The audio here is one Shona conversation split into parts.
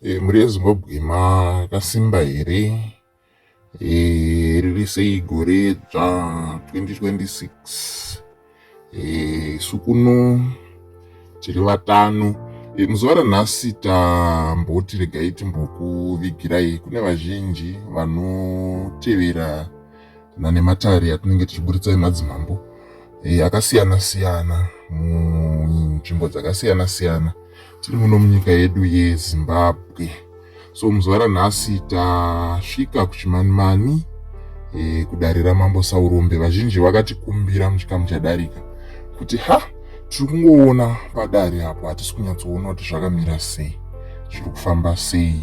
E, mhuri yezimbabwe makasimba here e, riri sei gore dzva 2026 e, isu kuno tiri vatano e, muzuva ranhasi tamboti regai timbokuvigirai kune vazhinji vanotevera nanematare atinenge tichiburitsa emadzimambo eh, akasiyana siyana munzvimbo dzakasiyana siyana tiri muno munyika yedu yezimbabwe so muzuva ranhasi tasvika kuchimanimani eh, kudare ramambo saurombe vazhinji vakatikumbira muchikamu chadarika kuti ha tiri kungoona padare apo hatisi kunyatsoona kuti zvakamira sei zviri kufamba sei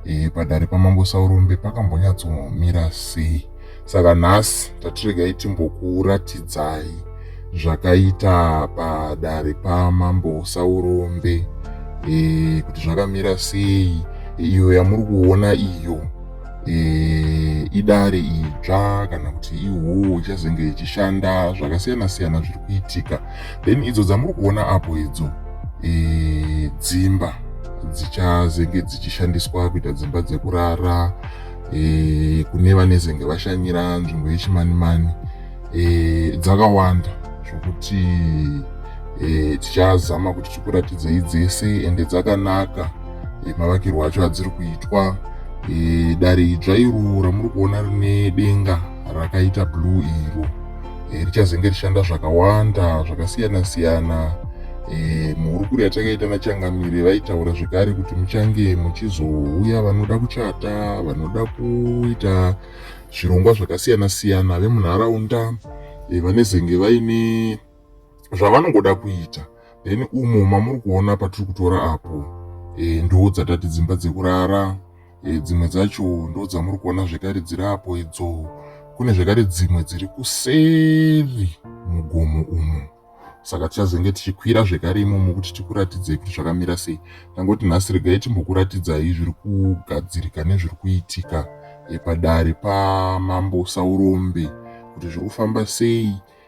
e, padare pamambo saurombe pakambonyatsomira sei saka nhasi tatiregai timbokuratidzai zvakaita padare pamambo saurombe e, kuti zvakamira sei iyo yamuri kuona iyo e, idare idzva kana kuti ihoo ichazenge ichishanda zvakasiyana siyana zviri kuitika then idzo dzamuri kuona apo idzo dzimba dzichazenge dzichishandiswa kuita dzimba dzekurara e, kune vanezenge vashanyira nzvimbo yechimanimani e, dzakawanda zvokuti e, tichazama kuti tikuratidzei dzese ende dzakanaka e, mavakirwo acho adziri kuitwa e, dare idzva iro ramuri kuona rine denga rakaita blue iro e, richazenge rishanda zvakawanda zvakasiyana siyana e, muhurukuro yatakaita nachangamire vaitaura zvekare kuti muchange muchizouya vanoda kuchata vanoda kuita zvirongwa zvakasiyana siyana vemunharaunda e, vanezenge vaine zvavanongoda kuita then umo mamuri kuona patiri kutora apo e, ndo dzatati dzimba dzekurara e, dzimwe dzacho ndo dzamuri kuona zvekare dziri apo idzo kune zvekare dzimwe dziri kuseri mugomo umo saka tichazenge tichikwira zvekare imomo kuti tikuratidzei kuti zvakamira sei tangoti nhasi regai timbokuratidzai zviri kugadzirika nezviri kuitika padare pamambo saurombe kuti zviri kufamba sei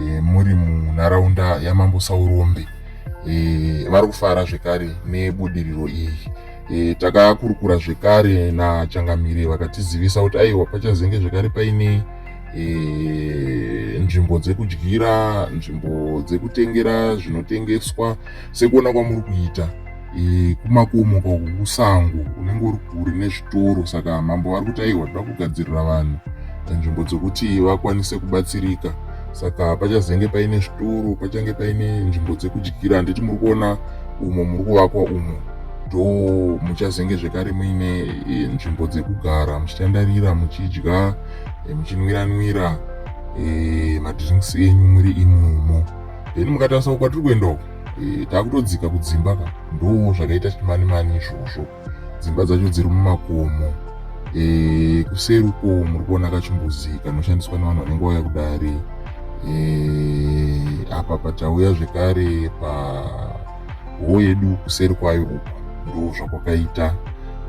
e, muri munharaunda yamambo saurombe e, vari kufara zvekare nebudiriro iyi e, takakurukura zvekare nachangamire vakatizivisa kuti aiwa pachazenge zvekare paine e, nzvimbo dzekudyira nzvimbo dzekutengera zvinotengeswa sekuona kwamuri kuita e, kumakomo uko kusango unenge uri kure nezvitoro saka mambo vari kuti aiwa toda kugadzirira vanhu nzvimbo dzekuti vakwanise kubatsirika saka pachazenge paine zvitoro pachange paine nzvimbo dzekudyira handiti muri kuona umo muri kuvakwa umo do muchazenge zvekare muine e, nzvimbo dzekugara muchitandarira muchidya e, muchinwiranwira e, madrinks enyu muri imumo then mukatarisa kwatiri kuenda uko e, takutodzika kudzimba ka ndoo zvakaita chimani mani izvozvo dzimba dzacho dziri mumakomo e, kuseri uko muri kuona kachimbuzi kanoshandiswa nevanhu vanenge vauya kudare e, apa patauya zvekare pa hoo yedu kuseri kwayo uko ndoo zvakwakaita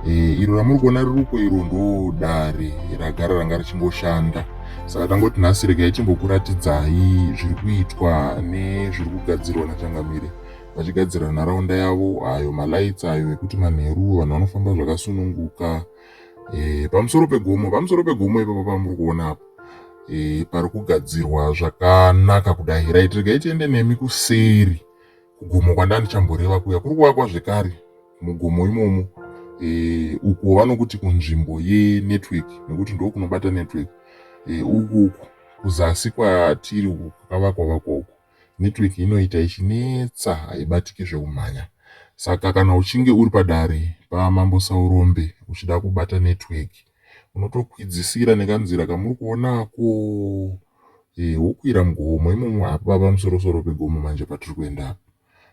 e, iro ramuri kuona riri uko iro ndoo dare ragara ranga richingoshanda saka tangoti nhasi regai timbokuratidzai zviri kuitwa nezviri kugadzirwa nachangamire vachigadzira nharaunda yavo ayo malights ayo ekuti manheru vanhu vanofamba zvakasununguka e, pamusoro pegomo pamusoro pegomo ipapo pamuri kuona apo e, pari kugadzirwa zvakanaka kudai right regai tiende nemi kuseri kugomo kwandandichamboreva kuya kuri kuvakwa zvekare mugomo imomo e, uko vanokuti kunzvimbo yenetwork nekuti ndo kunobata network e, uku uku kuzasi kwatiri uku kwakavakwa vakwa uku network inoita ichinetsa haibatike zvekumhanya saka kana uchinge uri padare pamambo saurombe uchida kubata network unotokwidzisira nekanzira kamuri kuonako e, wokwira mugomo imomo hapava pamusorosoro pegomo manje patiri kuenda apa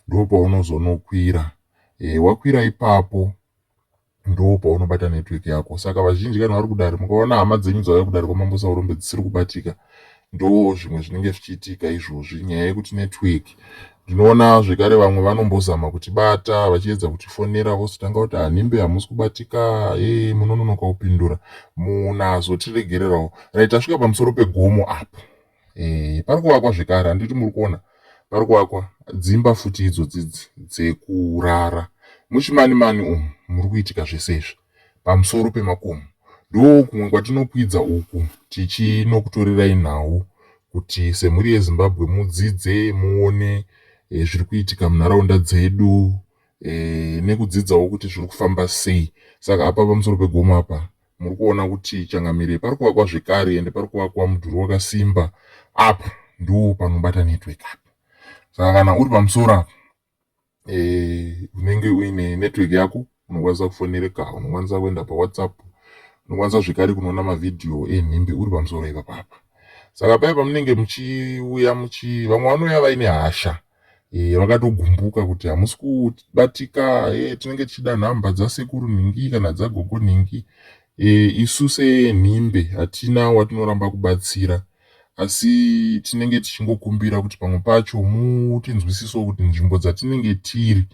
ndopaunozonokwira e, wakwira ipapo ndo paunobata network yako saka vazhinji kana vari kudare mukaona hama dzenyu dzauya kudare kwamambo saurombe dzisiri kubatika ndo zvimwe zvinenge zvichiitika izvozvi nyaya yekuti network ndinoona zvekare vamwe vanombozama kuti bata vachiedza kuti fonera vozotanga kuti hanimbe hamusi kubatika e munononoka kupindura munhu azotiregererawo rit asvika pamusoro pegomo apo e, pari kuvakwa zvekare handiti muri kuona pari kuvakwa dzimba futi idzo dzidzi dzekurara muchimani mani umu muri kuitika zvese izvi pamusoro pemakomo ndo kumwe kwatinokwidza uku tichinokutorerai nhau kuti semhuri yezimbabwe mudzidze muone e, zviri kuitika munharaunda dzedu e, nekudzidzawo kuti zviri kufamba sei saka apa pamusoro pegomo apa Muri kuona kuti changamire pari kuvakwa zvekare ende pari kuvakwa mudhuri wakasimba apa ndoo panobata network apa saka kana uri pamusoro apa eh, unenge uine network yako unokwanisa kufonereka unokwanisa kuenda pawhatsapp unokwanisa zvekare kunoona mavhidhiyo enhimbe uri pamusoro ipapapa saka paya pamunenge muchiuya muchi vamwe vanouya vaine hasha eh, vakatogumbuka kuti hamusi kubatika eh, tinenge tichida nhamba dzasekuru nhingi kana dzagogo nhingi eh, isu senhimbe hatina watinoramba kubatsira asi tinenge tichingokumbira kuti pamwe pacho mutinzwisiso kuti nzvimbo dzatinenge tiri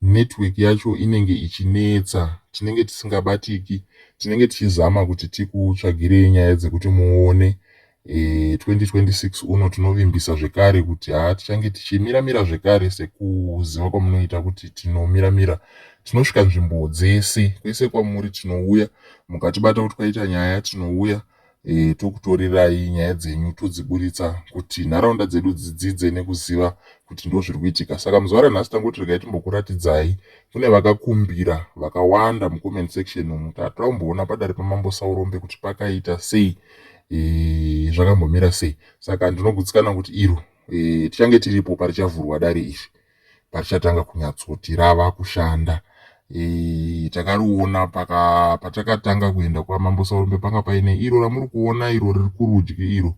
network yacho inenge ichinetsa tinenge tisingabatiki tinenge tichizama kuti tikutsvagirei nyaya dzekuti muone 2026 uno tinovimbisa zvekare kuti haa tichange tichimira mira zvekare sekuziva kwamunoita kuti tinomira mira tinosvika nzvimbo dzese kwese kwamuri tinouya mukatibata kuti kwaita nyaya tinouya e, tokutorirai nyaya dzenyu todziburitsa kuti nharaunda dzedu dzidzidze nekuziva kuti ndo zviri kuitika saka muzuva ranhasi tangoti regai timbokuratidzai kune vakakumbira vakawanda mucomment section umu tatomboona padare pamambo saurombe kuti pakaita sei e, zvakambomira sei saka ndinogutsikana kuti iro e, tichange tiripo parichavhurwa dare iri parichatanga kunyatsoti rava kushanda e, takariona paka patakatanga kuenda kwamambo saurombe panga paine iro ramuri kuona iro riri kurudyi iro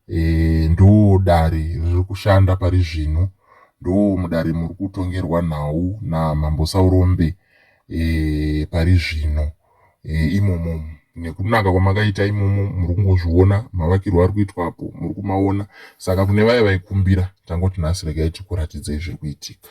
e, ndo dare riri kushanda pari zvino ndo mudare muri kutongerwa nhau namambo saurombe e, pari zvino eh, imomo nekunaka kwamakaita imomo muri kungozviona mavakirwo ari kuitwa apo muri kumaona saka kune vaye vaikumbira tangoti nhasi regai tikuratidzei zviri kuitika